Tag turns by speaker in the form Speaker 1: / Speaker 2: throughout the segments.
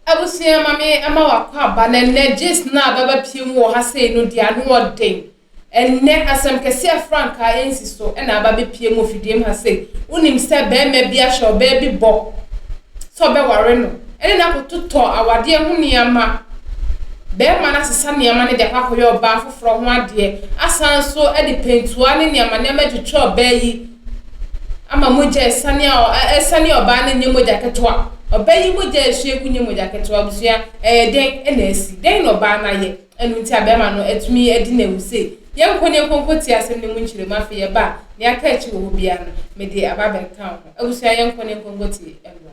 Speaker 1: Abusua ma me ma wakɔ aba na nnɛ gyes no a bɛba pie mu wɔ ha sei no deɛ ano wɔ den. Ɛnnɛ asɛm kɛseɛ a frankaa ɛnsi so na aba bɛpue mu wɔ fidiem ha sei. Wonim sɛ bɛɛma bi ahyɛ ɔbaa bi bɔ sɛ ɔbɛware no ɛne no akototɔ awadeɛ ho nneɛma. Bɛɛma no asesa nneɛma no de akɔ akɔyɛ ɔbaa foforɔ ho adeɛ asan nso de pɛntua ne nneɛma nneɛma atwitwa ɔbaa yi ama mogya asiane a asiane a ɔbaa no nyɛ mogya ketewa. Ɔbaa yi mogya a esua gu nyɛ mogya ketewa. Abusua, ɛyɛ dɛn na asi? Dɛn na ɔbaa no ayɛ? Ɛno nti a bɛrima no atumi adi no awu sei. Yɛnkɔ na yɛnkɔ nkɔtie asɛm no mu nkyerɛmu. Afei yɛba a, nea aka akyi wɔ hɔ biara no, mede aba abɛka wo ho. Abusua, yɛnkɔ na yɛnkɔ nkɔtie mmra.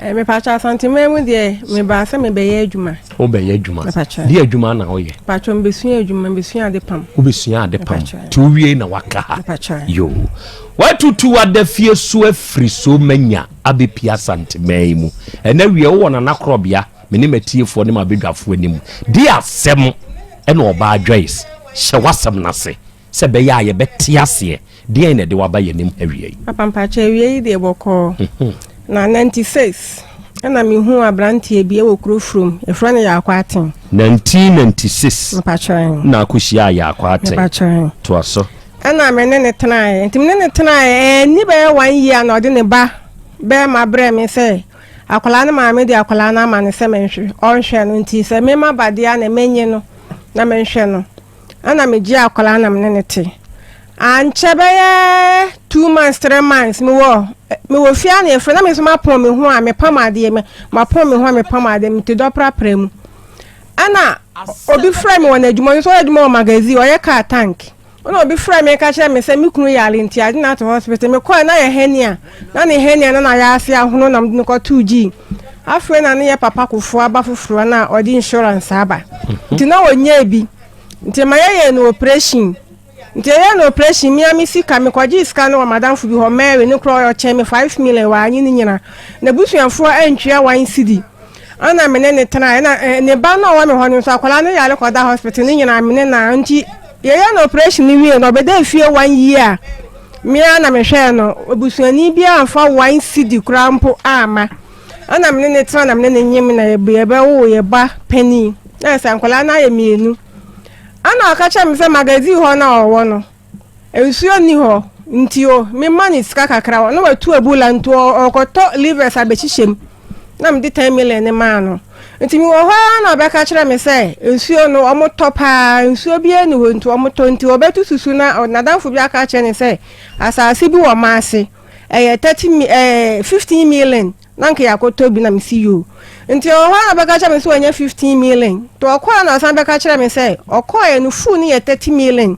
Speaker 2: Eh, mepakyɛ asanteman mu deɛ mebaa sɛ mebɛyɛ adwuma wobɛyɛ adwuma
Speaker 3: deɛ adwuma na woyɛ pakyɛ mebɛsua adwuma
Speaker 2: mebɛsua ade pam wobɛsua ade pam
Speaker 3: nti wowie na waka ha yo watutu adafie so afiri so manya abɛpie asanteman yi mu ɛnɛ wie wowɔ nanakorɔbea me ne matiefoɔ ne mabɛdwafoɔ anim di asɛm ɛna ɔbaa joyce hyɛ w'asɛm no ase Sɛ ɛbɛyɛ a yɛbɛte aseɛ. Deɛn na ɛde wo aba yɛn anim ha wia yi? Papa mpakyɛ awia yi
Speaker 2: deɛ bɔkɔɔ na ninety six ɛna me hu abranteɛ bi ɛwɔ kuro from yɛfrɛ no yaakɔ aten. Nineteen
Speaker 3: ninety six na
Speaker 2: akɔ hyia yaakɔ
Speaker 3: aten toa so. Ɛna me ne ne
Speaker 2: tenaeɛ nti me ne ne tenaeɛ ɛni bɛyɛ one year na ɔde ne ba bɛrima brɛ me sɛ akwadaa no maame de akwadaa no ama no sɛ menhwɛ ɔnhwɛ no nti sɛ mema badeɛ na menye no na menhwɛ no. Ɛna megyee akwadaa na me ne no te. Ankyɛ bɛyɛ two months three months mewɔ mewɔ fie a na yɛfrɛ na me nso mapɔn me ho a mepam adeɛ me mapɔn me ho a mepam adeɛ me te dɔ prapra mu. Ɛna obi frɛ me wɔ n'adwuma ɔno nso ɔyɛ adwuma wɔ magazine ɔyɛ car tank. Ɛna obi frɛ me ka kyerɛ me sɛ me kunu yare nti agye no ato hospital mekɔɛ na yɛ hernia na ne hernia no na yɛ ase ahono na mede no kɔtoo gyii. Afei na ne yɛ papa kofo aba foforɔ na ɔde insurance aba mhm. nti na ɔnyɛɛ bi nti ma yɛyɛ no operation nti yɛyɛ no operation mia me sika mekɔgye sika no wɔ madamfo bi hɔ mary ne korɔ ɔkyɛn me five million wɔ anyi ne nyina na busuafoɔ antwea wan sidi ana mene ne tena ɛna eh, ne ba no ɔwɔ me hɔ no nso akwadaa no yare kɔda hospital ne nyina mene na nti Yɛyɛɛ no operation no wiei no, ɔbɛdaa fie one year a me ara na mehwɛɛ no. Obusuani biara amfa one cedi koraa mpo amma. Ɛna me ne no tena na me ne no nyem na yɛbɛwoo yɛn ba panin. Na sɛ nkwadaa no ayɛ mmienu. Ɛna ɔka kyerɛɛ me sɛ magazine hɔ na ɔwɔ no. Nsuo nni hɔ nti o, mema no sika kakra hɔ na watu abula nti ɔkɔtɔ livers abɛhyehyɛ mu. Na mede ten million no maa no. Nti mewɔ hɔ ara na ɔbɛka kyerɛ me sɛ nsuo no wɔtɔ paa, nsuo biara nni hɔ nti wɔtɔ nti ɔbɛto susu na n'adamfo bi aka akyerɛ ne sɛ asase bi wɔ Maase ɛyɛ thirty mi ɛɛ fifteen million na nka yɛakɔtɔ bi na mesi yoo nti ɔwɔ hɔ na ɔbɛka kyerɛ me sɛ wɔnyɛ fifteen million nti ɔkɔɔ na ɔsan bɛka kyerɛ me sɛ ɔkɔɔɛ no full no yɛ thirty million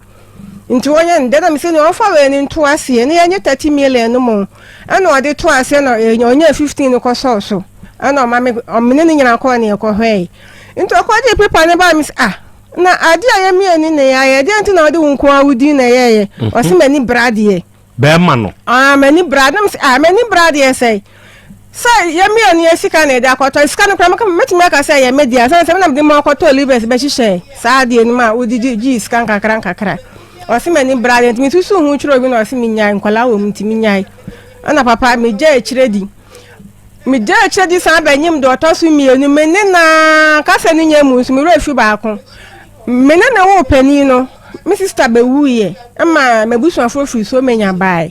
Speaker 2: Nti wɔnyɛ no dɛn na mese nea ɔmfa wei no nto aseɛ na yɛnyɛ thirty million no mu ɛna ɔde to aseɛ na ɛnya ɔnya fifteen no kɔ sɔɔ so ɛna ɔma me ɔmene ne nyina kɔɔ ne yɛkɔ hwɛɛe nti ɔkɔ de pepa ne baa me sɛ ah na adeɛ a yɛmmienu na yɛayɛ deɛ nti na ɔde wo nko a wo din na ɛyɛɛyɛ ɔse m'ani bra deɛ bɛɛma no.
Speaker 3: Ah m'ani bra na mese
Speaker 2: ah m'ani bra deɛ sɛe sɛ yɛ mmienu yɛ sika na yɛde akɔtɔ sika no kora mɛtumi aka sɛ yɛ me deɛ sɛ sɛ menam de ma ɔkɔtɔ livers bɛhyehyɛ saa adeɛ no mu a wode gyegye sika nkakra nkakra ɔse m'ani bra deɛ nti mesusu ho kyerɛ obi na ɔse menyae nkwadaa wɔ mu nti menyae ɛna papa megya akyire di megya akyire di san bɛnyem deɛ ɔtɔ so mmienu me ne na kasa no nya mu nso mewerɛ fi baako me ne na wo panin no Me sista bewuiɛ ma m'abusuafoɔ firi Somenya baeɛ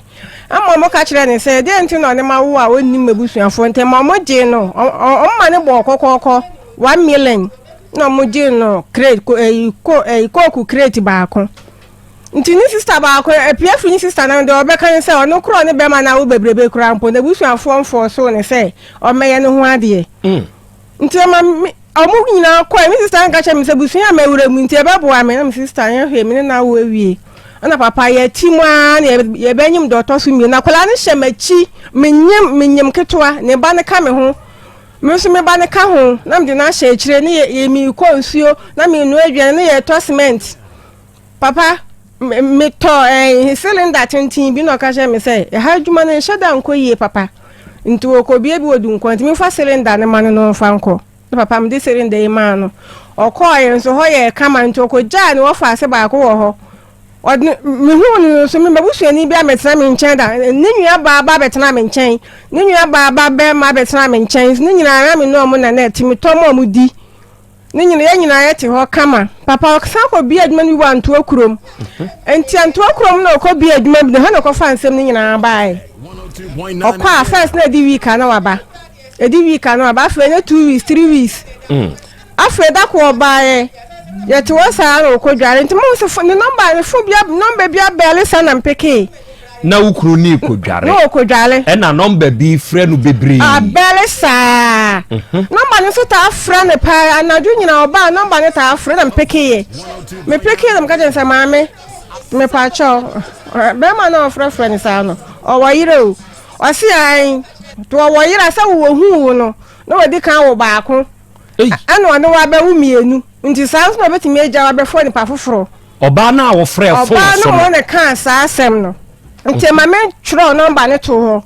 Speaker 2: ma wɔka kyerɛɛ no sɛ deɛ nti na ɔne ma wo a ɔnnim m'abusuafoɔ ntam ma wɔgyee no wɔn ma no bɔɔ kɔkɔɔkɔ one million na wɔgyee no crate kooku crate baako nti ne sista baako apia firi ne sista no deɛ ɔbɛka ne sɛ ɔno korɔ ne bɛma no awo bebrebe koraa mpo n'abusuafoɔ mfɔɔ so ne sɛ ɔmmɛyɛ ne ho adeɛ mm. nti ɛma me ɔmo nyinaa kɔɛ me sista nka kyɛ me sɛ busua a mawura mu nti ɛbɛboa me na me sista nyɛ hwee me ne no awo awie ɛna papa yɛti mu ara na yɛbɛnyem deɛ ɔtɔ so mmienu akwadaa no hyɛ m'akyi menyem menyem ketewa ne ba no ka me ho me nso me ba no ka ho na mede no ahyɛ akyire ne yɛ yɛ mekɔ nsuo na menoa aduane ne yɛtɔ cement Papa, metɔ eh, cylinder tenten bi na ɔka kyerɛ me sɛ ɛha adwuma no nhyɛ da nkɔ yie papa. Nti wɔkɔbie bi wɔ dunkɔ nti mefa cylinder no ma no no mfa nkɔ. Na papa mede cylinder yi maa no. Ɔkɔɔ yɛn nso hɔ yɛ kama nti ɔkɔgyaa ne wɔfa ase baako wɔ hɔ. Ɔde mehuu no nso me mabusuani bi abɛtena me nkyɛn da ne nua baa ba abɛtena me nkyɛn ne nua baa ba bɛrima abɛtena me nkyɛn ne nyinaa me ne ɔmo na na ɛte metɔ ma ɔmo di. Ne nyina yɛ nyinaa yɛ te hɔ kama papa ɔsan kɔ bia adwuma no bi wɔ antoa kurom nti antoa kurom na ɔkɔ bia adwuma bi na hɔ na ɔkɔfa nsɛm no nyinaa baeɛ ɔkɔ a first na ɛdi week a na waba ɛdi week a na waba afei na two weeks three weeks mm. afei da ko ɔbaeɛ yɛte hɔ saa na ɔkɔ dware nti mo nso ne nɔmba ne fo bia nɔmba bia bɛɛle saa na mpekee Na wo kunu
Speaker 3: nii kodware. Na okodware. Ɛna
Speaker 2: nɔmba bi
Speaker 3: frɛ no bebree. Abɛre saa.
Speaker 2: Nɔmba no nso taa frɛ no paa. Anadwo nyinaa ɔbaa nɔmba no taa frɛ na mepekeeɛ. Mepekeeɛ na meka kyerɛ no sɛ maame mepaakyɛw bɛrima no a ɔfrɛfrɛ no saa no ɔwɔ yerɛ o. Ɔse ae nti ɔwɔ yerɛ a sɛ wɔhuu wo no na wɔdi kan wo baako Ei! Ɛna ɔne wo abɛwo mmienu. Nti saa nso na ɔbɛtumi agya wo abɛfrɛ onipa foforɔ? Ɔbaa no a wɔfrɛɛ
Speaker 3: fon so no. Ɔbaa no a ɔne kaa
Speaker 2: saa asɛm no. Nti ma me twerɛ nɔmba no to hɔ.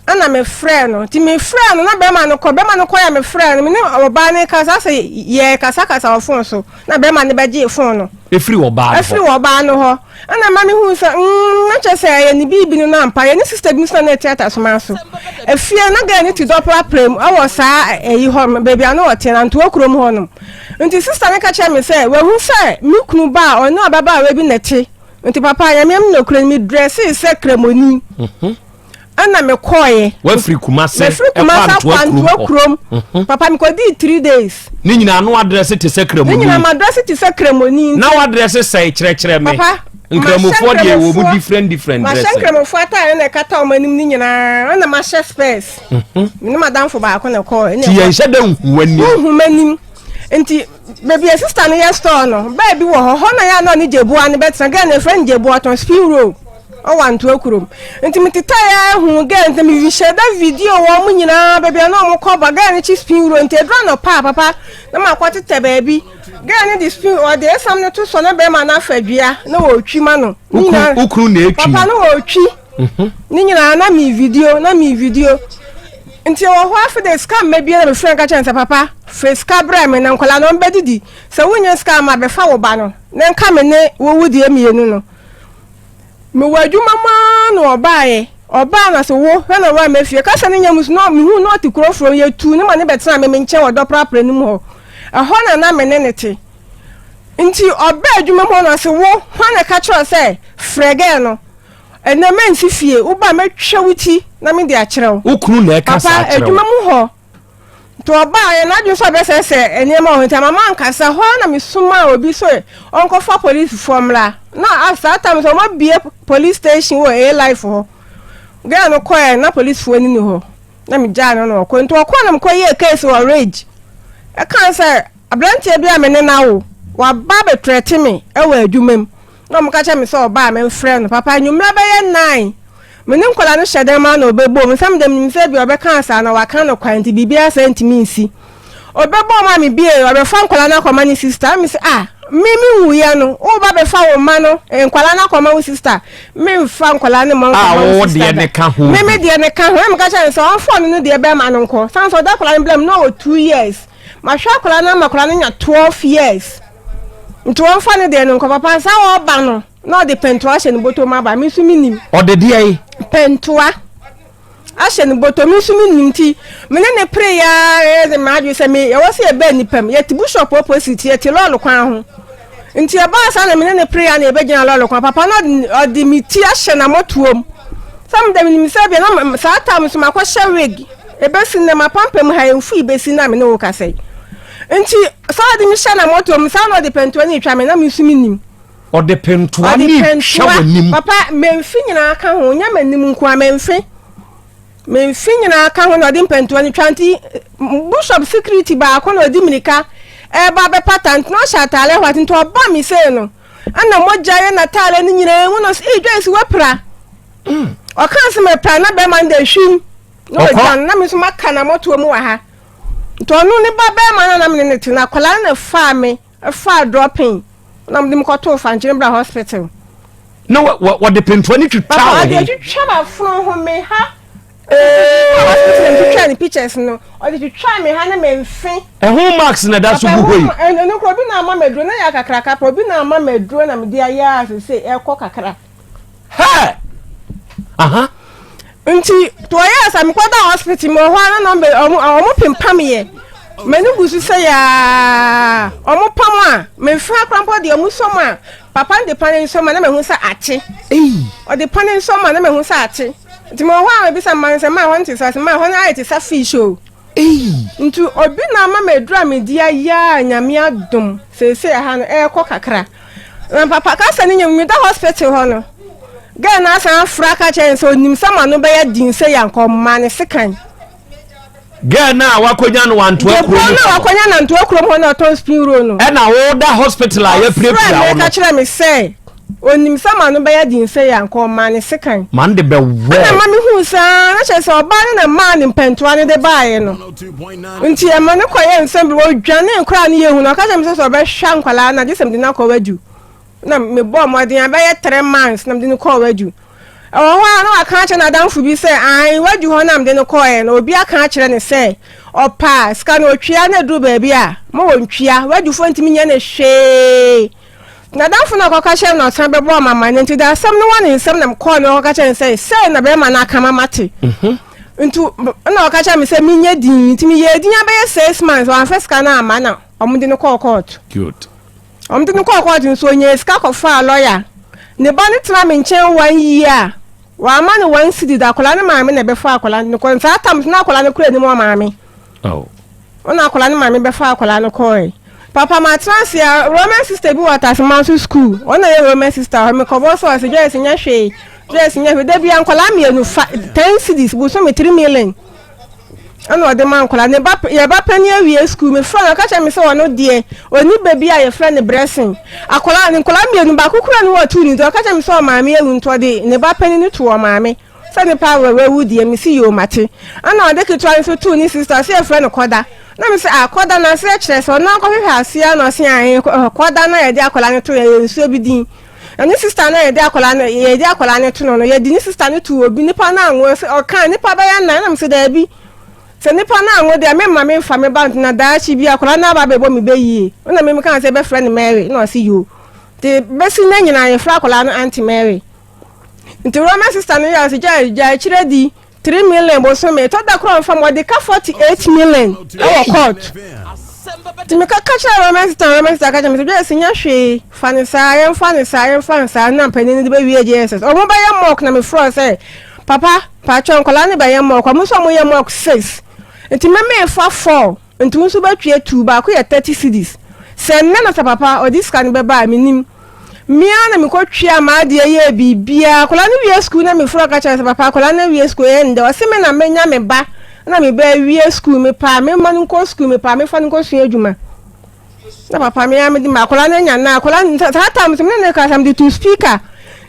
Speaker 2: Ɛna me frɛɛ no. Nti me frɛɛ no na bɛrima no kɔ. Bɛrima no kɔ yɛ me frɛɛ no. Me ne ɔbaa no kasa sɛ yɛ kasa kasa wɔ fon so. Na bɛrima no bɛgyee fon no. Efiri ɔbaa no hɔ. Efiri
Speaker 3: ɔbaa no hɔ. Ɛna
Speaker 2: ɛma me hui sɛ mm na kyerɛ sɛ ɛyɛ ne biribi no na ampa yɛ ne sista bi nso na na ɛte atasoma so efie na gɛɛ ne ti dɔprapra mu ɛwɔ saa ɛyi hɔ no baabi a na ɔte na ntoa kurom hɔ nom nti sista no ka kyerɛ me sɛ wahu sɛ me kunu ba a ɔne ababaawa bi na ɛte nti papa nyame m na okura me drɛse sɛ kramoni mhm. ɛna mekɔɔeɛ wafiri kumase
Speaker 3: mefiri kumase akɔ
Speaker 2: antoa kurom mhm. papa mekɔdii three days ne nyinaa no adrɛse
Speaker 3: te sɛ kramoni ne nyinaa madrɛse te sɛ
Speaker 2: kramoni na wadrɛse sɛe
Speaker 3: kyerɛkyerɛ me papa nkramofoɔ
Speaker 2: deɛ
Speaker 3: wɔ mu different different dressing mahyɛ nkramofoɔ ataare
Speaker 2: na ɛkata wɔn anim ne nyinaa ɛna mahyɛ spɛs mhm. me ne madamfo baako na ɛkɔɔ ti yɛn hyɛ dɛ nhu
Speaker 3: anim nhu m'anim
Speaker 2: nti beebi a sista no yɛ store no bɛɛ bi wɔ hɔ hɔ na yɛ anɔ ne gyebua no bɛtena gɛn na efrɛ no gyebua tɔn spill road Ɔwantoa kurom. Nti me tetae a ehu gɛɛ nti me hyɛ da video wɔ ɔmo nyinaa baabi a na ɔmo kɔ ba gɛɛ ne kyi spin wuro nti edura no paa papa na ma kɔ tetɛ baabi gɛɛ ne de spin ɔde esam no to so na bɛrima na fa dua na ɔtwi ma no ne nyinaa ukuru na etwi
Speaker 3: papa na ɔtwi
Speaker 2: mhm. ne nyinaa na me video na me video nti wɔ hɔ afei de sika mma bia na mefrɛ nka kyɛn sɛ papa fɛ sika brɛ me na nkɔla no ɔmbɛdidi sɛ wonya sika ma bɛfa wo ba no na nka me ne wowu deɛ mmienu no Mewɔ adwuma mu ara na ɔbaeɛ. Ɔbaa na sɛ wo hwɛ na ɔwɔ ama fie. Kasa no nya mu so na mehu na ɔte kuro foforɔ mu. Yɛtuu ne ma ne bɛtena me me nkyɛn wɔ dɔprapra no mu hɔ. Ɛhɔ na na me ne ne te. Nti ɔbaa adwuma mu hɔ na sɛ wo hwan na ɛka kyerɛ sɛ frɛ gɛɛ no. Ɛnɛ mɛnsi fie. Woba mɛtwa wo ti na mede akyerɛ wo. Wo kunu na ɛka saa kyerɛ wo. Papa
Speaker 3: adwuma mu hɔ
Speaker 2: Nti ɔbaa yɛ n'adwene sɛ ɔbɛsɛ sɛ nneɛma wɔ nti ama mankasa hɔ na mesomaa obi sɛ ɔnkɔfa polisifoɔ mmra na a saa tam sɛ ɔmabie police station wɔ a life hɔ gɛɛ no kɔɛ na polisifoɔ no ni hɔ na megyaa no na ɔkɔ nti ɔkɔ na mekɔ yɛ case wɔ rage ɛkaa sɛ aberanteɛ bi a me ne no awo waba bɛtrɛte me ɛwɔ adwuma mu Na wɔka kyerɛɛ me sɛ ɔba a memfrɛɛ no papa anwummerɛ bɛyɛ nnan. Me ne nkwadaa no hyɛ dan mu ara na ɔbɛboom. Nsɛm deɛ menim sɛ ebia ɔbɛka ase anaa waka no kwa nti biribiara saa ntumi nsi. Ɔbɛboom a mebiee, ɔbɛfa nkwadaa no akɔma ne sista. Na mese, ah, me menwuiɛ no, woreba abɛfa wo mma no, nkwadaa no akɔma wo sista? Memfa nkwadaa no mma nkɔma wo sista da.
Speaker 3: Me me deɛ ne ka ho. Na
Speaker 2: meka kyerɛɛ no sɛ ɔmfa ɔno no deɛ bɛrima no nkɔ. Sane sɛ ɔda akwadaa no berɛ mu na ɔwɔ two years. Mahwɛ akwadaa no ama akwadaa no anya twelve years. nti wɔmfa no deɛ no nkɔ papa nsa wɔba no na ɔde pɛntoa ahyɛ ne bɔtɔ mu aba me nso menim ɔde deɛ yi
Speaker 3: pɛntoa
Speaker 2: ahyɛ ne bɔtɔ me nso menim nti me ne ne pere ya yɛde maadwe sɛ me yɛwɔ sɛ yɛbɛ nnipa mu yɛte bushop opposite yɛte lɔɔre kwan ho nti ɛbaa saa na me ne ne pere ya na yɛbɛgyina lɔɔre kwan papa na ɔde me ti ahyɛ na mɔtoɔ mu sɛ meda menim sɛ bia na saa tam so makɔhyɛ wig ɛbɛsi nnɛ mapampam ha ɛmfui bɛsi na me ne wo kasɛe nti Saa ɔde me hyɛ na moto mu saa na ɔde pɛntoa ne retwa me na me nso me nim. Ɔde pɛntoa
Speaker 3: ne retwa w'anim. Papa mɛnfi nyinaa
Speaker 2: ka ho nyɛ m'anim nko a mɛnfi mɛnfi nyinaa ka ho na ɔde mpɛntoa ne twa nti bishop security baako na ɔde mirika ɛreba eh, bɛpata nti na ɔhyɛ ataale hɔ ati nti ɔba me sei no ɛna mogya yɛ n'ataale no nyinaa mu no ee dwa esi wapira mm. ɔka se mɛpira na bɛrima no de ehwim na ɔgya no na me nso maka na mɔtoa mu wɔ ha. Nti ɔno ne ba bɛɛma no na mene no te no akwadaa no na faa me faa drɔpen na mede me kɔtoo fankyere bra hospital na
Speaker 3: wɔde pentoa ne twitwa wo ho ɔde twitwa ma fono
Speaker 2: ho me ha hospital twitwa ne pictures no ɔde twitwa me ha ne me mfe ɛho marks na da
Speaker 3: so gu hɔ yi ɛno kora obi na ama
Speaker 2: maduro na yɛ akakraka pa obi na ama maduro na mede ayɛ a sɛ ɛkɔ kakra
Speaker 3: Hey! Aha. Nti
Speaker 2: to ɔyɛ sɛ mekɔda hospital mu ɔhɔ ara na ɔmo pempam yɛ m'ani gu so sɛ yaa ɔmo pam a memfra kora mpo deɛ ɔmo sɔm a papa no de pa ne nsɔm a na mahu sɛ akye ɔde pa ne nsɔm a na mahu sɛ akye nti mewɔ hɔ a mebisa mma no sɛ maa hɔ no te sɛ ɔsɛ maa hɔ no ayɛ te sɛ fish o Ei! Nti obi na ama maduru a medi ayɛ a Nyame adom seesei aha no ɛrekɔ kakra. Na papa ka sɛ ne nyɛ mu meda hospital hɔ no girl no asan afra ka kyerɛ ne sɛ onim sɛ ma no bɛyɛ den sɛ yɛ anka ɔma ne sekan.
Speaker 3: Girl no a wakonya no wantoa kurom hɔ no. Girl no a wakonya no antoa
Speaker 2: kurom hɔ no ɔtɔn spring roll no. Ɛna woda hospital
Speaker 3: a yɛpirapira wo no. Ɔfrɛ me ka kyerɛ me sɛ.
Speaker 2: Onim sɛ m'ano bɛyɛ den sɛɛ a, anka ɔmaa ne sekan. Ma no de bɛwɔɔ.
Speaker 3: Ɛnna ɛma mihuu sɛ
Speaker 2: aane, na kyerɛ sɛ, ɔbaa no na mmaa ne mpɛntoa no de baeɛ no. Enti ɛma no kɔyɛɛ nsɛm bi, odwanee koraa a ne yɛ hu, na ɔka kyerɛɛ me sɛ sɛ ɔbɛhwɛ nkwadaa no a, gye sɛ mede no akɔ Wadu. Na mebɔɔ mmɔden a, ɛbɛyɛ three months na mede no kɔɔ Wadu. Ɛwɔ hɔ ara na waka akyerɛ n'adamfo bi sɛ, aane, Wadu hɔ na mede no kɔeɛ no, obi aka akyerɛ no sɛ, ɔpɛ a, sika no ɔtwea, na ɛduru baabi a, ma wɔntwea, Wadufoɔ ntumi nyɛ no hwee. N'adamfo no a ɔkɔka kyerɛɛ no na ɔsan bɛbɔɔ me amanneɛ nti, ɔde asɛm no wɔ ne nsam na mekɔɔ no ɔkɔka kyerɛɛ no sɛ, sɛɛ na bɛrima no aka ma mate. Mhm. Nti na ɔka kyerɛɛ me sɛ menyɛ din, nti meyɛɛ din abɛyɛ six months, wamfa sika no amma na wɔde no kɔɔ kɔɔto. Good.
Speaker 3: Wɔde no kɔɔ
Speaker 2: kɔɔto nso ɔnyɛɛ sika kɔfaa lɔya. Ne ba no tena me nkyɛn one year a, wamma no one cedi da, akwadaa no maame na ɛbɛfa akwadaa no kɔ, saa tam so na akwadaa no kura anim wɔ maame. Ao. Ɔna akwadaa no maame bɛfa akwadaa no kɔɔe. Papa ma tra ase a Roman sister bi wɔ Ataseman so school. Ɔna yɛ Roman sister hɔ. Me kɔbɔ so ɔse Joyce nyɛ hwee. Joyce nyɛ hwee. Da bi a nkwadaa mmienu fa ten cities bosom me three million. Ɛna ɔde ma nkwadaa. Ne ba yɛ ba pɛni awie school. Me fra no ɔka kyerɛ me sɛ ɔno deɛ ɔni ba bi a yɛfrɛ no Bressing. Akwadaa ne nkwadaa mmienu baako kura ne wɔ tu ne nti ɔka kyerɛ me sɛ ɔmaame awu nti ɔde ne ba pɛni no tu ɔmaame. Sɛ ne paa wura wawu deɛ me se yoo mate. Ɛna ɔde ketewa no nso too ne sister ɔse yɛfrɛ no Kɔda. Na me se ah Kɔda n'aseɛ kyerɛ sɛ ɔno ankɔhwehwɛ aseɛ na ɔse ahen Kɔda na yɛde akwadaa no too yɛyɛ nsuo bi din. Na ne sister na yɛde akwadaa no yɛde akwadaa no to no no yɛde ne sister no too obi nipa no anwo ɔse ɔkaa nipa bɛyɛ nan na me se daabi sɛ nipa no anwo deɛ memma memfa me ba nto na daakye bi akwadaa no aba abɛbɔ me bɛ yie. Ɛna me mekaa sɛ yɛbɛfrɛ no Mary na ɔse yoo. Nti bɛsi nnɛ nyinaa yɛfrɛ akwadaa no Auntie Mary. Nti Roman sister no yɛ gya gya akyire di three million bosome ɛtɔ da koro nfa mu ɔde ka forty eight million ɛwɔ court nti mi ka ka kyerɛ Roman sister Roman sister ka kyerɛ mi sɛ gya esi nyɛ hwee fa ne saa yɛn fa ne saa yɛn fa ne saa na mpanyin no de bɛ wie JSS ɔmo bɛ yɛ mock na mi frɔ sɛ papa paatwa nkɔla ne bɛ yɛ mock ɔmo nso ɔmo yɛ mock six nti mɛmɛ fa four. Ntumu nso bɛtwea tuu baako yɛ thirty cedis sɛ nnɛ na sɛ papa ɔde sika no bɛba a mennim me ara na mekɔ twea m'adeɛ yɛɛ biribiara akwadaa no wie sukuu na mefrɛ ɔka kyerɛ me sɛ papa akwadaa no awie sukuu ɛyɛ nnɛ ɔse me na mɛnya me ba na me ba awie sukuu mepɛ a memma no nkɔ sukuu mepɛ a mefa no nkɔsua adwuma na papa me ara mede ma akwadaa no anya na akwadaa no saa tam sɛ me ne ne kasa mede to speaker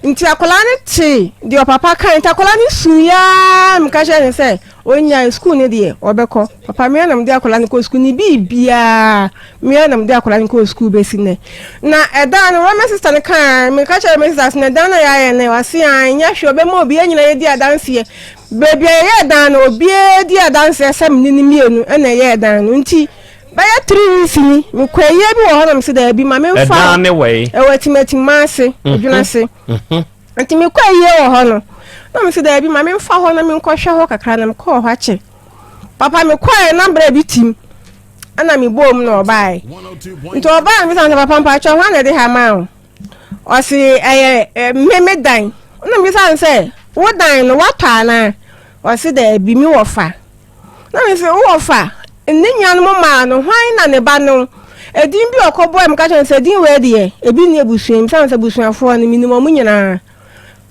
Speaker 2: nti akwadaa no te deɛ ɔpapa kan nti akwadaa no su yaa meka kyerɛ ne sɛ ɔnya sukuu no deɛ ɔbɛkɔ papa me ara na mede akwadaa no kɔ sukuu ne biribiaa me ara na mede akwadaa no kɔ sukuu bɛsi nɛ na ɛdan no wɔma sista no kaa meka kyerɛ me sista sɛ ɛdan no yɛayɛ no wase a ɛnyɛ hwɛ ɔbɛma obiara nyina yɛdi adanseɛ baabi a yɛyɛ ɛdan no obiara di adanseɛ sɛ mene no mmienu ɛna ɛyɛ ɛdan no nti bɛyɛ three weeks ni mekɔ ɛyɛ bi wɔ hɔ nam sɛ daabi ma memfa ɛdan ne wɔ yi ɛwɔ
Speaker 3: atimatim ma
Speaker 2: ase mhm. adwuna ase mhm. nti mekɔ ɛyɛ wɔ hɔ no na mesɛ daabi ma memfa hɔ na menkɔhwɛ hɔ kakra na mekɔɔ hɔ akyɛ papa mekɔɛ na berɛ bi tim ɛna mebɔɔ mu na ɔbaeɛ nti ɔbaa me sɛ papa mpakyɛ ho ana ɛde ha ma o ɔse ɛyɛ mmeme dan na mebisa no sɛ wo dan no woatɔ anaa ɔse daabi me wɔ fa Na mese, Wo wɔfa, ne nua no mo maa no, hwan na ne ba no? Edin bi a ɔkɔbɔe, meka kyerɛ no sɛ, Edin wei deɛ, ebi nni abusua mu, sane sɛ abusuafoɔ no, menim wɔn nyinaa.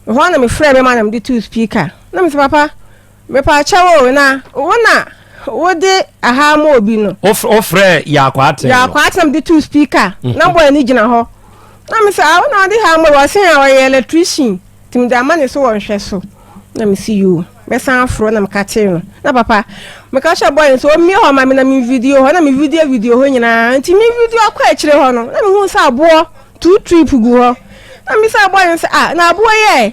Speaker 2: Ɛhɔ ara na mefrɛɛ me ma na mede too speaker. Na mese, Papa, mepaakyɛ wo, na wo na wode aha ama obi no. Wofrɛɛ
Speaker 3: Yaakɔ Aten no? Yaakɔ Aten na mede too
Speaker 2: speaker, na bɔɔ ani gyina hɔ. Na mese, Ah, wo na wode ha ama obi, ɔse a ɔyɛ electrician. Nti mede ama ne so wɔ nhwɛso. Na mese yoo, mɛsan aforo na meka kyeree no. Na papa, meka kyerɛ bɔɔy no sɛ ɔmmie hɔ ma me na me video hɔ. Na me video video hɔ nyinaa. Nti me video akɔ akyire hɔ no, na mehu sɛ aboɔ two trip gu hɔ. Na mebisa bɔɔy no sɛ ah, na aboɔ yi ɛ?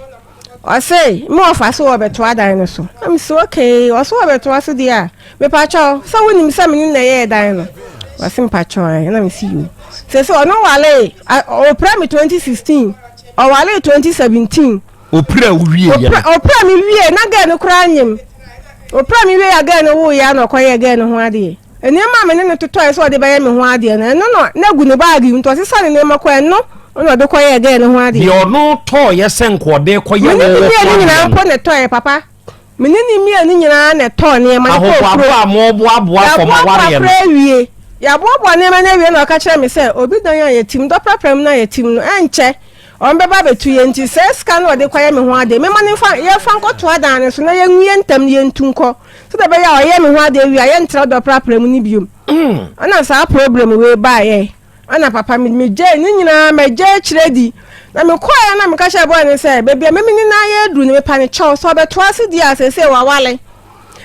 Speaker 2: Ɔse me wɔfa so wɔbɛtoa dan no so. Na mese okay, ɔse wɔbɛtoa so deɛ a, mepakyɛ wo, sɛ wonim sɛ me ne na ɛyɛɛ dan no? Ɔse mepakyɛ wo, ɛɛ. Na mese yoo. Sese ɔno walee, ɔpira me 2016. Ɔwaree twenty seventeen. Opira wo
Speaker 3: wie yɛ. Opira opira mi wie
Speaker 2: na gɛɛ no koraa nyim. Opira mi wie a gɛɛ no woo yɛ na ɔkɔyɛ gɛɛ no ho adeɛ. Nneɛma a me ne no totɔɛ sɛ ɔde bɛyɛ me ho adeɛ no ɛno na na gu ne baage mu nti ɔsesa ne nneɛma kɔ ɛno na ɔde kɔyɛ gɛɛ no ho adeɛ. Deɛ ɔno tɔɔyɛ
Speaker 3: sɛ nka ɔde kɔyɛ wɔ wɔ ho adeɛ no. Mene ne mie ne nyinaa mpo na
Speaker 2: ɛtɔɛ papa. Me ne ne mmienu nyinaa na ɛtɔɔ nneɛma de kɔɔ kurom. Ahoboaboa a moboaboa
Speaker 3: kɔma wareɛ no. Yɛaboaboa koraa awie.
Speaker 2: Yɛaboaboa nneɛma no awie na ɔka kyerɛɛ me sɛ, Obi dan a yɛatim, dɔprapra mu no a yɛatim no, ɛnkyɛ wɔbɛba abɛtu yɛn nti, saa sika no a ɔde kɔyɛ me ho ade, memma no mfa, yɛmfa nkɔtoa dan no so na yɛngu yɛn ntam na yɛntu nkɔ, sɛdeɛ ɛbɛyɛ a ɔyɛ me ho ade awie a, yɛntra dɔprapra mu no biom. Ɛna saa problem wei baeɛ. Ana papa me me gyae ne nyinaa magya akyire di na mekɔɛ a na meka kyerɛ bɔɔ ne sɛ baabi a meme ne no ayɛ aduru no mepa ne kyɛw sɛ ɔbɛtoa ase di a sɛsɛ wawale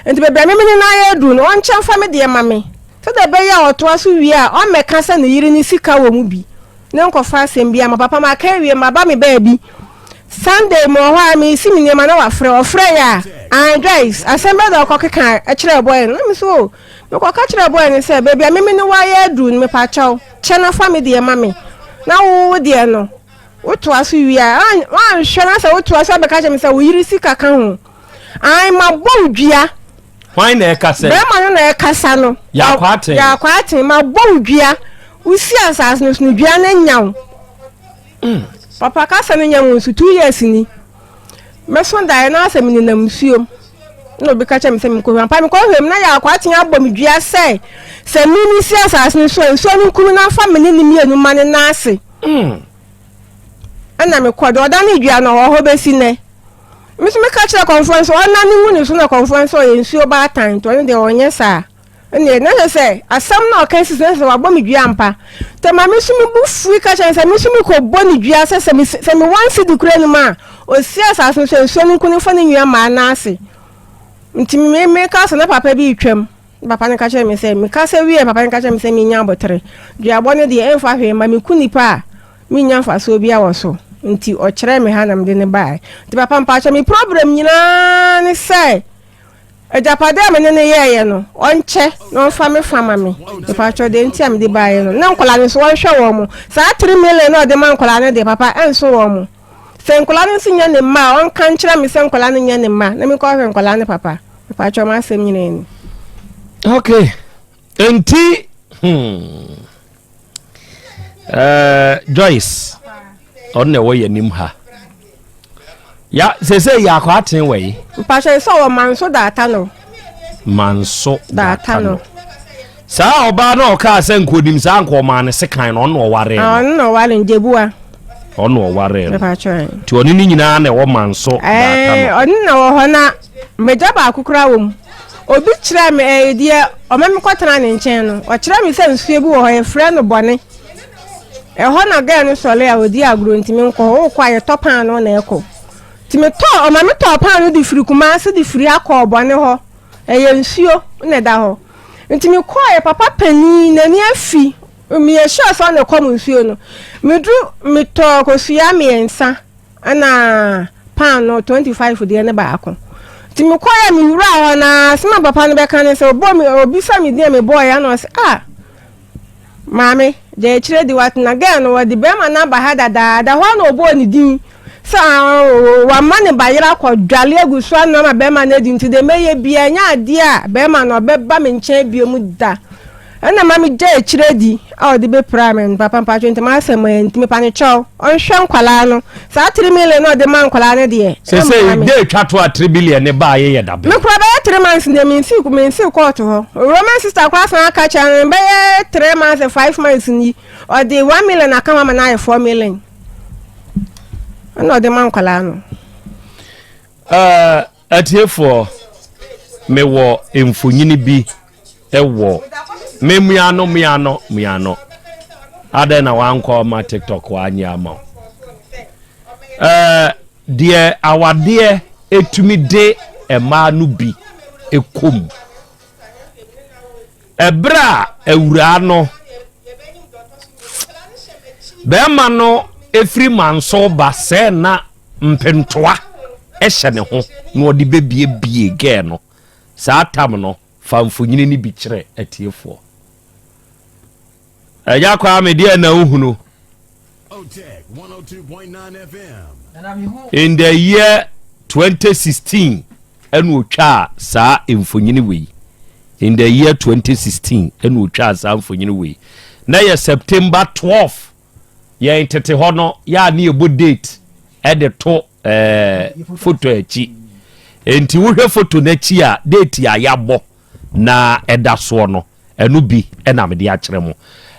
Speaker 2: nti baabi a meme ne no ayɛ aduru no ɔnkyɛ mfa me deɛ ma me sɛdeɛ ɛbɛyɛ a ɔtoa so wie a ɔmmɛka sɛ ne yere ne sika wɔ mu bi ne nkɔfa asɛm bi ama papa maka awie maba me baabi Sunday mu wɔ hɔ a mesi me nneɛma na wafrɛ ɔfrɛ yɛ a ah guys asɛm bɛda ɔkɔ keka kyerɛ bɔɛ no na me so oh, Mekɔka kyerɛɛ bɔe no sɛ, Baabi a me me ne wo ayɛ aduru no, mepakyɛw, kyɛ na fa me deɛ ma me, na wo wo deɛ no, wotoa so wie a, woanhwɛ na sɛ wotoa so abɛka akyerɛ me sɛ wo yere sika ka ho. Aane, mabɔ wo dua. Hwan na
Speaker 3: ɛrekasa yi? Barima no na ɛrekasa
Speaker 2: no. Yɛakwaatee.
Speaker 3: Yɛakwaatee. Mabɔ wo dua.
Speaker 2: Wosi asaase no so no, dua no anya wo. Mm. Papa kasa no nyɛ nwonso, two years ni. Mɛso daeɛ na sɛ menenam nsuom na obi ka kyerɛ me sɛ menkɔhwɛ ampa mekɔhwɛ mu na yɛ akɔ atea abɔ me dua sɛ sɛ me ne si asase no so a nsuo no nkumi na afa me ne ne mmienu ma ne nan ase hmm. ɛna mekɔ de ɔda ne dua no ɔwɔ hɔ bɛsi nnɛ me nso meka kyerɛ kɔmfoɔ no sɛ ɔna ne ngu ne so na kɔmfoɔ no sɛ ɔyɛ nsuo baatan nti ɔno deɛ ɔnyɛ saa Ɛnneɛ, na kyerɛ sɛ asɛm no a ɔka si so, na kyerɛ sɛ wabɔ me dua ampa. Nti ma me nso me bo fui ka kyerɛ no sɛ me nso mekɔbɔ no dua sɛ sɛ me sɛ me wɔn sidi kura anim a, ɔsi asase no so a nsuo no nko no mfa ne nnua mmaa nan ase. Nti me meka sɛ na papa bi retwam. Papa no ka kyerɛ me sɛ meka sɛ wie papa no ka kyerɛ me sɛ menya abotere. Duabɔ no deɛ ɛmfa hwee ma meku nipa a menya mfasoɔ bi wɔ so. Nti ɔkyerɛ me ha na mede no baeɛ. Nti papa mpakyɛ me problem nyinaa ne sɛ Agyapade a me ne no yɛeɛ no, ɔnkyɛ na ɔmfa me fa ma me. Mepaatwɔ deɛ nti a mede baeɛ no, na nkwadaa no nso ɔnhwɛ wɔn mo. Saa three million na ɔde ma nkwadaa no deɛ, papa, ɛnso wɔn mo. Sɛ nkwadaa no nso nyɛ ne mma a, ɔnka nkyerɛ me sɛ nkwadaa no nyɛ ne mma, na menkɔhwɛ nkwadaa no, papa. Mepaatwɔ mo asɛm nyinaa ni.
Speaker 3: Okay, nti hmm. Eh, Joyce, ɔno na ɛwɔ yɛn anim ha. Ya sese yɛ akɔ aten wɔ yi. Mpatsɛ sɛ wɔ
Speaker 2: manso daata no. Manso daata no.
Speaker 3: Saa ɔbaa na ɔkaa sɛ nkonim saa nka ɔmaa ne sekan no ɔno ɔware no. Ah, ɔno na ɔware no gyebua.
Speaker 2: Ɔno ɔware
Speaker 3: no. Mpatsɛ. Ti ɔne
Speaker 2: ne nyinaa
Speaker 3: na ɛwɔ manso daata no. Eh, ɔno na wɔ hɔ na
Speaker 2: M'agya baako koraa wɔ mu. Obi kyerɛɛ me ɛɛdeɛ ɔma me kɔtena ne nkyɛn no, ɔkyerɛɛ me sɛ nsuo bi wɔ hɔ, yɛfrɛ no bɔne. Ɛhɔ na gɛɛ no sɔre a ɔdi agorɔ nti me nkɔ hɔ, wokɔ a yɛtɔ paano na ɛkɔ. Nti me tɔ, ɔma me tɔɔ paano de firi Kumase de firi ha kɔɔ bɔne hɔ. Ɛyɛ nsuo na ɛda hɔ. Nti me kɔɔ yɛ papa panin n'ani afi, meyɛ sure sɛ ɔna ɛkɔm nsuo no. Meduru, me tɔɔ kosua mmiɛnsa. ɛna paanoo twenty five deɛ ne baako nti me kɔɛ me wura hɔ na sima papa no bɛka ne sɛ ɔbɔ me obi sɛ me deɛ me bɔɔ ya na ɔsɛ a ah, maame gya akyire de watena gɛɛ no wɔde bɛrima no aba ha dadaada hɔ na ɔbɔɔ ne din sɛ ah, wama ne bayerɛ akɔ dwale agu so anam a bɛrima no adi nti deɛ mɛyɛ bia nyɛ adeɛ a bɛrima no ɔbɛba me nkyɛn bio mu da Ɛna ma me gyae akyire adi a ɔde bɛ piraa me no papa mpakyɛw nti ma asɛm ayɛ nti me panekyɛw ɔnhwɛ nkwalaa no saa tiri milion na ɔde ma nkwalaa no deɛ sese de atwa
Speaker 3: to a tiri bilion ne ba ayɛ yɛ dabe me kura bɛyɛ tiri mansi
Speaker 2: deɛ me nsi me nsi kɔɔto hɔ owurɔ me sista kura san aka kyɛn no bɛyɛ tiri mansi five months ni ɔde one million aka ho ama na ayɛ four million ɛna ɔde ma nkwalaa no. Uh,
Speaker 3: Atiefoɔ, mewɔ mfonyini bi wɔ me mmeano mmeano mmeano. Adɛn na wankɔ ama TikTok wanyɛ ama wo? Ɛɛ deɛ awadeɛ etumi de mmaa no bi kɔ mu. Ɛberɛ a awuraa no, bɛrima no firi manso ba sɛ na mpentoa hyɛ ne ho na ɔde bɛbiebie gɛɛ no saa tam no fa mfonyini no bi kyerɛ atiefoɔ. Agya Kwame deɛ na wohunu.
Speaker 4: In the
Speaker 3: year 2016 ɛna ɔtwaa saa mfonyini wei. In the year 2016 ɛna ɔtwaa saa mfonyini wei. Na yɛ September 12 yɛn tete hɔ no yɛ a ne yɛbɔ date ɛde to ɛɛ eh, foto akyi. Nti wohwɛ foto n'akyi a date a yɛabɔ na ɛda soɔ no. Ɛno bi na mede akyerɛ mo.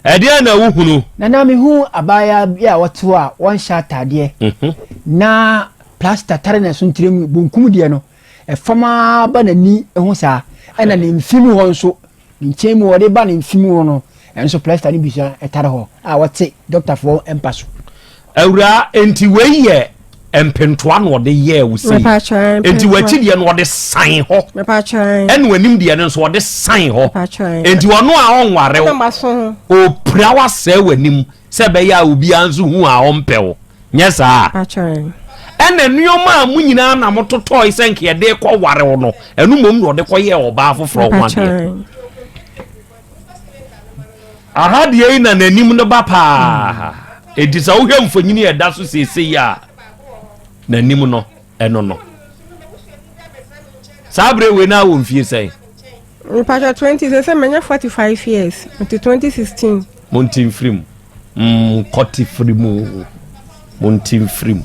Speaker 3: Ɛdeɛn na wohunu? Na na mehunu
Speaker 5: abaayaa bi a ɔte hɔ a ɔnhyɛ ataadeɛ, na plasta tare ne so ntrɛmu, bonkum deɛ no, ɛfam ara ba n'ani ho saa, ɛna ne mfe mu hɔ nso, ne nkyɛn mu hɔ, de ba ne mfe mu hɔ no nso plasta no bi nso tare hɔ a ɔte dɔktafoɔ mpa so. Awuraa,
Speaker 3: enti wei yɛ mpentoa na ɔde yɛɛ wo sei. Enti w'akyi deɛ no ɔde san hɔ. Ɛna w'anim deɛ no nso ɔde san hɔ. Enti ɔno a ɔnware wo, ɔpira wo asɛe w'anim sɛ ɛbɛyɛ a obiara nso hu a ɔmpɛ wo. Nyɛ saa. Ɛna nneɛma a mo nyinaa na mototɔe sɛ nka yɛde kɔware wo no, ɛno mmom na ɔde kɔyɛɛ ɔbaa foforɔ ho adeɛ. aha deɛ yi na n'anim no ba paa ɛti sɛ wohwɛ mfonyini a ɛda so seesei a n'anim no ɛno no saa berɛ wei no a wɔ mfie sɛn mepatwa 20
Speaker 2: sɛ sɛ manya 45 years nti 2016 monte mfiri mu
Speaker 3: Monkɔte firi mu, monte mfiri mu.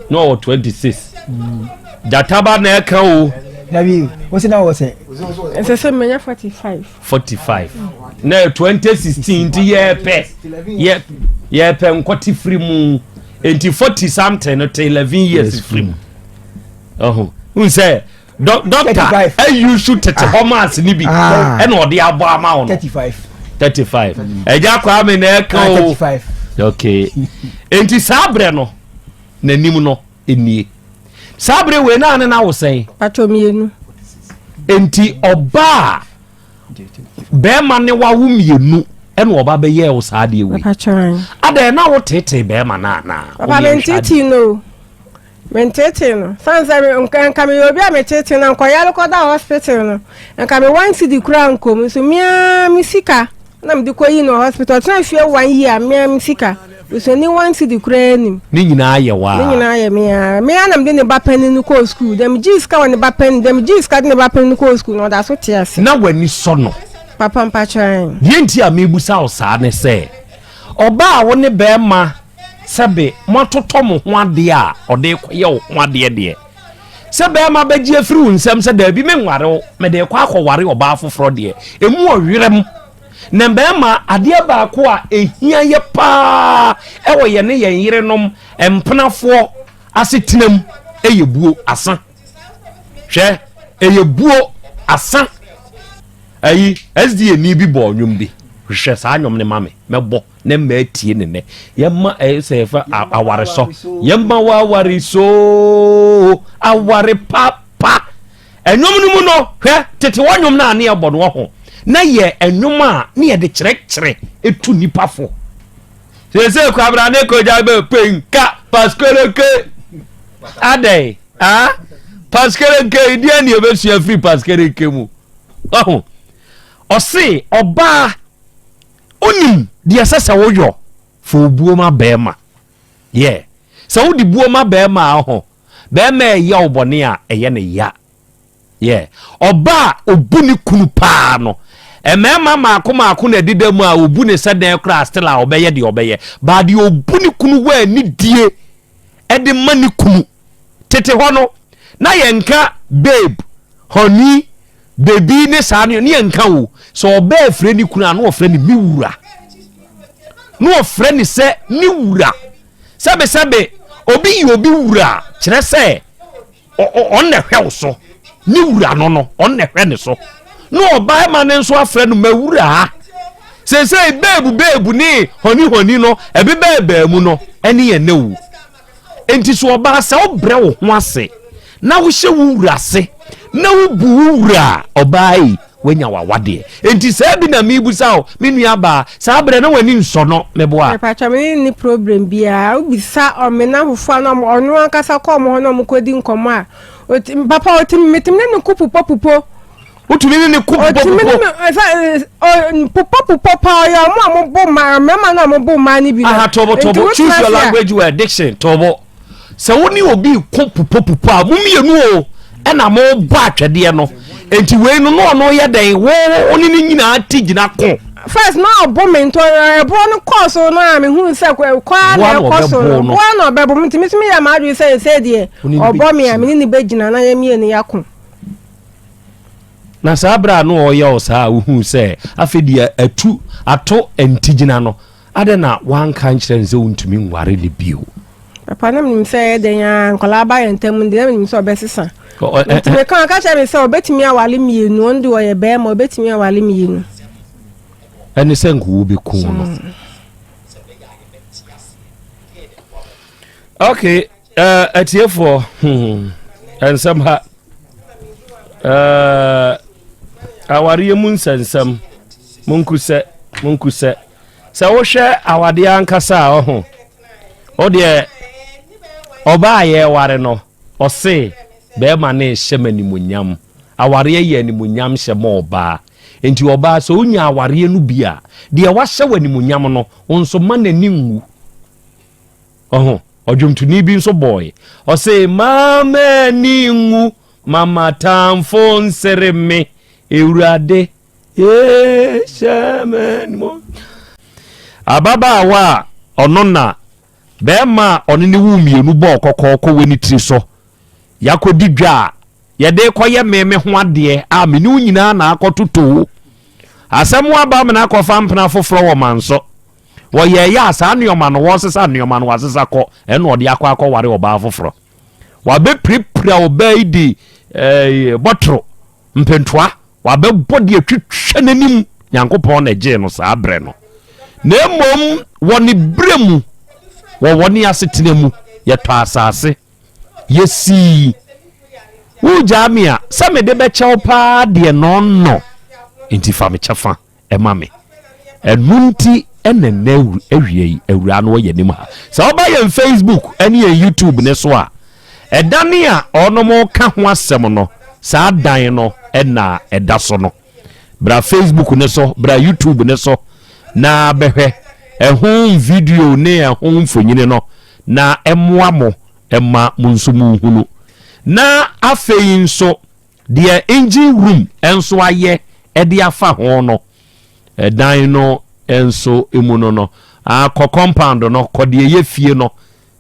Speaker 3: Na ɔwɔ 26. Gyata ba na ɛka o. Dabi, wosi
Speaker 5: na wɔ sɛ. Ɛsɛ sɛ menya 45.
Speaker 2: 45. Na
Speaker 3: 2016 nti yɛpɛ yɛ yɛpɛ nkɔte firi mu. Nti 40 something no te 11 years firi mu. Ɛho. N sɛ dɔkta ayusu tete hɔ maase no bi ɛna ɔde abɔ ama wo no 35 ɛgya kwaa me na ɛka o ok enti saa berɛ no n'anim no nie saa berɛ wei naa ne no awo sɛn patɔmienu
Speaker 2: enti
Speaker 3: ɔbaa bɛrima ne wawo mmienu ɛna ɔba bɛyɛ wo saa deɛ wei adɛn na wotetee bɛrima no anaa papa mentete
Speaker 2: no Menteetee no. Sane sɛ me, nka, nka meyɛ obi a meteetee na nkɔyare kɔda hospital no, nka me one cedi koraa nkom. Nso me ara me sika na mede kɔyi no wɔ hospital. Ɔtena fie one year, me ara me sika. Busuani one cedi koraa anim. Ne nyinaa yɛ wo Ne ara.
Speaker 3: nyinaa yɛ me ara.
Speaker 2: Me ara na mede ne ba panin no kɔɔ sukuu. Deɛ megyee sika wɔ ne ba panin, deɛ megyee sika de ne ba panin no kɔɔ sukuu no, ɔda so te ase. Na w'ani sɔ no?
Speaker 3: Papa, mpakyɛ, ae.
Speaker 2: Deɛ enti a merebisa
Speaker 3: wo saa ne sɛ, Ɔbaa a wo ne barima sɛbe moatotɔ mo ho adeɛ a ɔde rekɔyɛ wo ho adeɛ deɛ, sɛ barima bɛgye afiri wo nsam sɛ daabi menware wo, mede rekɔ akɔware ɔbaa foforɔ deɛ, ɛmu wɔ werɛm. Na mmarima, adeɛ baako a ɛhia yɛ paa wɔ yɛne yɛn yerenom, mpenafoɔ, asetenam yɛ buo, asa. hwɛ ɛyɛ buo asa ayi sda ni bi bɔɔ nnwom bi hwehwɛ saa nnwom no ma me mɛbɔ ne mma atie ne nnɛ yɛma ɛyɛ sɛ yɛfɛ aware sɔ yɛma wɔ aware so aware papa ɛnwom no mu no hwɛ tete wɔ nnwom no a ne yɛbɔ no wɔ ho na yɛ ɛnwom a ne yɛde kyerɛkyerɛ ɛtu nnipa fo Sese kwabra ne kogya bɛ penka paskerenke adɛn ah paskerenke deɛ ne ɛbɛsua firi paskerenke mu ɔho ɔse ɔbaa wonim deɛ ɛsɛ sɛ woyɔ fa obuo ma bɛrima yɛ sɛ wode buo ma bɛrima a ɔho bɛrima ɛyɛ wo bɔne a ɛyɛ ne ya Yeah. Ɔba a obu ne kunu paa no. Mmarima mmaako mmaako na ɛdeda mu a obu ne sɛ dɛn koraa still a ɔbɛyɛ deɛ ɔbɛyɛ. Baa deɛ obu ne kunu wɔ anidie ɛde ma ne kunu. Tete hɔ no, na yɛnka babe, honey, baby ne saa ne yɛnka o. Sɛ ɔbaa afire ne kunu a na ɔfrɛ ne me wura. Na ɔfrɛ ne sɛ ne wura. Sɛbesɛbe obi yi obi wura kyerɛ sɛ Ɔno na ɛhwɛ wo so. Ne wura no no, ɔno na ɛhwɛ ne so. Na ɔbarima no nso afrɛ no m'awuraa. Seesei beebu beebu ne hɔni hɔni no ɛbebɛɛbɛɛ mu no ɛne yɛn na wu. Enti so ɔbaa sɛ wobrɛ wo ho ase na wohyɛ wo wura ase na wobu wo wura a, ɔbaa ei, Woanya w'awadeɛ? Enti saa bi na merebisa wo, me nuabaa. Saa berɛ na w'ani nsɔ no, meboa? Mepakyɛ, me ne no nni
Speaker 2: problem biara. Wobisa ɔmena fofoɔ a na ɔmo, ɔno ankasa kɔ ɔmo hɔ na ɔmo kɔdi nkɔmmɔ a, ɔti, papa ɔtumi, metumi ne no ko pupɔpupɔ. Wotumi ne no
Speaker 3: ko pupɔpupɔ? Ɔtumi ne me, ɛsɛ, ɔ,
Speaker 2: pupɔpupɔ paa, ɔyɛ ɔmo a ɔmo bo mmaa, mmarima no a ɔmo bo mmaa no bi no. Aha, tɔbɔtɔbɔ, choose
Speaker 3: your language well, diction, tɔbɔ. sɛ wo ne obi ko popopopɔ a mo mmienu o ɛna mo bɔ atwɛdeɛ no nti wei no na ɔno yɛ dɛn wo wo ne ne nyinaa ti gyina ko. first na ɔbo
Speaker 2: me ntɔ ɛboɔ no kɔɔ so no a mehu sɛ kɔ a na ɛkɔ so no boa na ɔbɛbo me ntumi tumi yɛ m'adwene sɛ ɛsɛ deɛ ɔbɔ me a mene ne bɛgyina na yɛ mmienu yɛako
Speaker 3: na saa berɛ a na ɔyɛ wo saa a wohu sɛ afei deɛ atu ato ntigyina no Adɛn na woanka ankyerɛ no sɛ wontumi nware no bio? Papa na menim
Speaker 2: sɛ ɛyɛ dɛn ara nkwadaa ba yɛn ntam de na menim sɛ ɔbɛsesa. Nti meka ɔka kyerɛ me sɛ ɔbɛtumi awale mmienu, ɔno de ɔyɛ bɛrima ɔbɛtumi awale mmienu.
Speaker 3: Ɛne sɛ nka wobɛku no. Okay, Uh, atiefoɔ hmm. ɛnsɛm ha uh, awareɛ mu nsɛnsɛm monkusɛ monkusɛ sɛ wohwɛ awadeɛ ankasa a ɔho wodeɛ ɔba a yɛware no ɔse bɛrima ne hyɛ ma animonyam awareɛ yɛ animonyam hyɛ ma ɔbaa nti ɔbaa sɛ wonya awareɛ no bi a deɛ wahyɛ wɔ animonyam no wo nso ma n'ani nwu Ɔho, ɔdwomtoni bi nso bɔɔe. Ɔse, Mma m'ani nnwu, mma m'atamfo nsere me, Awurade, ee, hyɛ m'animuonyam. Ababaawa a ɔno na barima a ɔne no woo mmienu bɔɔ kɔkɔ kɔ wɔ ne tiri so, Yɛakɔdi dwa a yɛde rekɔyɛ me me ho adeɛ a me ne wo nyinaa na akɔtotoo. Asɛm aba a me no akɔfa mpena foforɔ wɔ manso. Wɔyɛeɛ a, saa nnoɔma no, wɔsesa nnoɔma no, wɔasesa kɔ, ɛnna ɔde akɔ akɔware ɔbaa foforɔ. Wɔabɛpirapira ɔbaa yi de ɛɛ bɔtoro, mpentoa, wɔabɛbɔ de atwitwa n'anim. Nyankopɔn na ɛgyee no saa berɛ no. Na mmom wɔ ne berɛ mu, wɔ wɔne asetena mu, yɛtɔ asase, yɛsii. Wogyaa me a, sɛ mede bɛkyɛ wo paa deɛ nɔnnɔ, enti fa me kyɛfa. ma me. Ɛno nti na nnɛ awia yi awura no wɔ yɛn anim ha. Sɛ woba yɛn Facebook ne yɛn YouTube ne so a, ɛdan a ɔnom ka ho asɛm no, saa dan no na ɛda so no. Bra Facebook ne so, bra YouTube ne so na bɛhwɛ ɛho video ne ɛho mfonyini no na ɛmmoa mo ɛma mo nso mo hunu. Na afei nso Deɛ engine room nso ayɛ de afa ho no, dan no nso mu no no, ah, kɔ compound no, kɔ deɛ ɛyɛ fie no,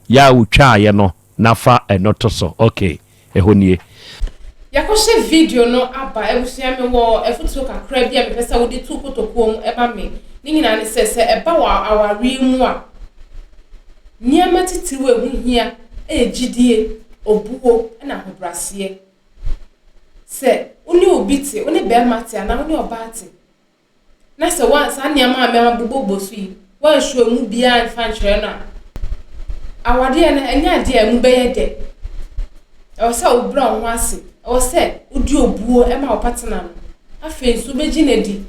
Speaker 3: yɛ a wotwaaeɛ no, na fa ɛno to so. Ok, ɛhɔ nie. Yɛakɔhyɛ
Speaker 1: video no aba. Abusua, mewɔ afotuo kakra bi a mepɛ sɛ wode tu kotokuo mu ma me. Ne nyinaa ne sɛ, sɛ ɛba wɔ awareɛ mu a, nneɛma titiriw a ɛho hia yɛ gyidie, obuo, ɛna ahobrɛaseɛ. sɛ wo ne obi te, wo ne barima te anaa wo ne ɔbaa te, na sɛ woan saa nneɛma a mɛma bobɔbɔ so yi, woansuo emu biara mfa nkyerɛ no a, awadeɛ no ɛnyɛ adeɛ a emu bɛyɛ dɛ. Ɛwɔ sɛ wobrɛ wo ho ase. Ɛwɔ sɛ wode obuo ma wo partner no. Afei nso, wobɛgye no adi.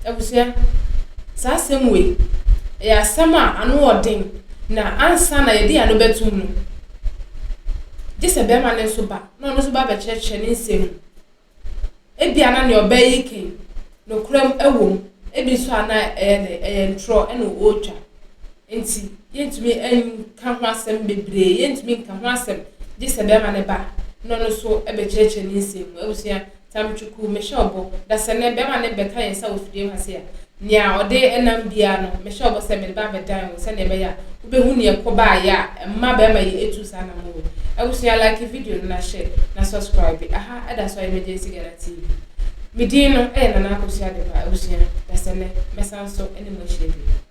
Speaker 1: Abusua, saa asɛm wei, ɛyɛ asɛm a ano wɔ den, na ansa na yɛde ano bɛtum no, gye sɛ bɛrima no nso ba, na ɔno nso ba bɛkyerɛkyerɛ ne nsɛm mu. Ebia na nea ɔbaa yi kɛn, nokorɛm ɛwɔ mu, ebi nso a na ɛyɛ dɛ, ɛyɛ ntorɔ ɛna ɔretwa. Nti, yɛntumi nka ho asɛm bebree, yɛntumi nka ho asɛm, gye sɛ bɛrima no ba, na ɔno nso ɛbɛkyerɛkyerɛ ne nsɛm mu. Abusua, Tam Twuku, Mehyɛ wo bɔ, da sɛ nnɛ bɛrima no bɛka yɛn nsa wɔ fidiem ha sei a, nea ɔde nam biara no, mehyɛ wo bɔ sɛ mede bɛba abɛdan wo sɛnea ɛbɛyɛ a wobɛhu nea ɛkɔ baeɛ a ɛma bɛrima yi tu saa anammɔn wei. Abusua, like video no na share na subscribe. Aha ɛda so a Emergency Ghana TV. Me din no yɛ Nana Akosua Adepa. Abusua, da sɛ nnɛ mɛsan so ne mo ahyia bio.